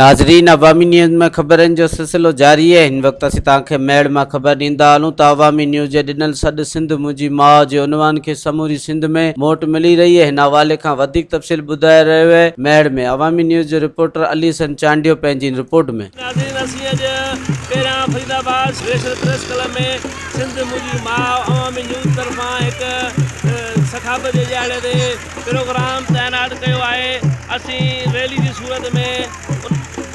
ناظرين عوامي نيوز ۾ خبرن جو سلسلو جاري اهي هن وقت اسين توهان کي ميڙ مان خبر ڏيندا هلون ته عوامي نيوز جي ڏنل سڏ سنڌ منهنجي ماء جي عنوان کي سموري سنڌ ۾ موٽ ملي رهي اهي هن حوالي کان وڌيڪ تفصيل ٻڌائي رهيو اهي ميڙ ۾ عوامي نيوز جي رپورٽر علي حسن چانڊيو پنهنجي ان رپورٽ ۾ ناظرين اسين اڄ پهريان فريد آباد سپيشل پريس ڪلب ۾ سنڌ منهنجي ماء عوامي نيوز طرفان هڪ سخاوت جي ڏهاڙي تي پروگرام تعينات ڪيو آهي اسين ريلي جي صورت ۾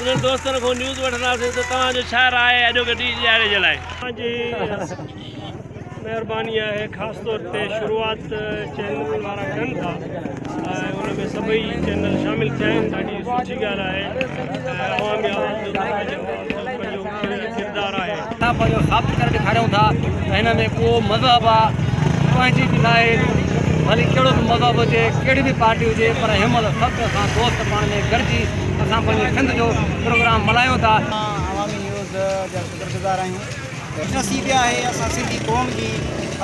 انهن دوستن کون نيوز وٺنداسين ته توهان جو ڇا راء آهي اڄوڪي ڊي جي ڏهاڙي جي لاء. توهان جي مهرباني آهي خاص طور تي شروعات چينل وارا ڪن ٿا ۽ ان ۾ سڀئي چينل شامل ٿيا آهن ڏاڍي سٺي ڳالهه آهي ۽ عوامي آواز جو تهان جي آواز جو پنهنجو هن جو ڪردار آهي. اسان پنهنجو ثابت ڪري ڏيکاريون ٿا ته هن ۾ ڪو مذهب آ پنهنجي به ناهي ڀلي ڪهڙو به مذهب هجي ڪهڙي به پارٽي هجي پر هن مهل سڀ اسان دوست پاڻ ۾ گڏجي اسان پنهنجي سنڌ جو پروگرام ملهايون ٿا. اسان عوامي نيوز جا شڪرگذار آهيون. خوش نصيبي آهي اسان سنڌي قوم جي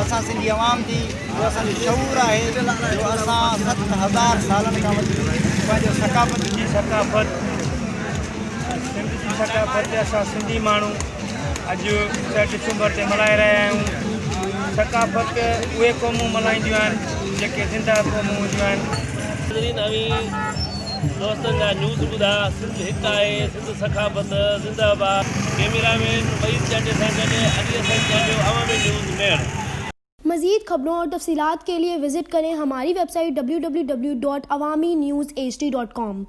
اسان سنڌي عوام جي جو اسان جو شعور آهي جو اسان ست هزار سالن کان وٺي پنهنجو ثقافت جي ثقافت سنڌ جي ثقافت اسان سنڌي ماڻهو اڄ ڏهه ڊسمبر تي ملهائي رهيا آهيون ثقافت اهي قومون ملهائينديون آهن جيڪي زنده قومون هونديون آهن دوستن جا نيوز ٻڌا سنڌ هڪ آهي سنڌ ثقافت زنده باد ڪيميرا مين وحيد چانڊيو سان گڏ علي حسن چانڊيو عوامي نيوز ميڻ. مزيد خبرون اور تفصيلات کے لئے وزٹ کریں ہماری ویب سائٹ www.awaminews hd.com.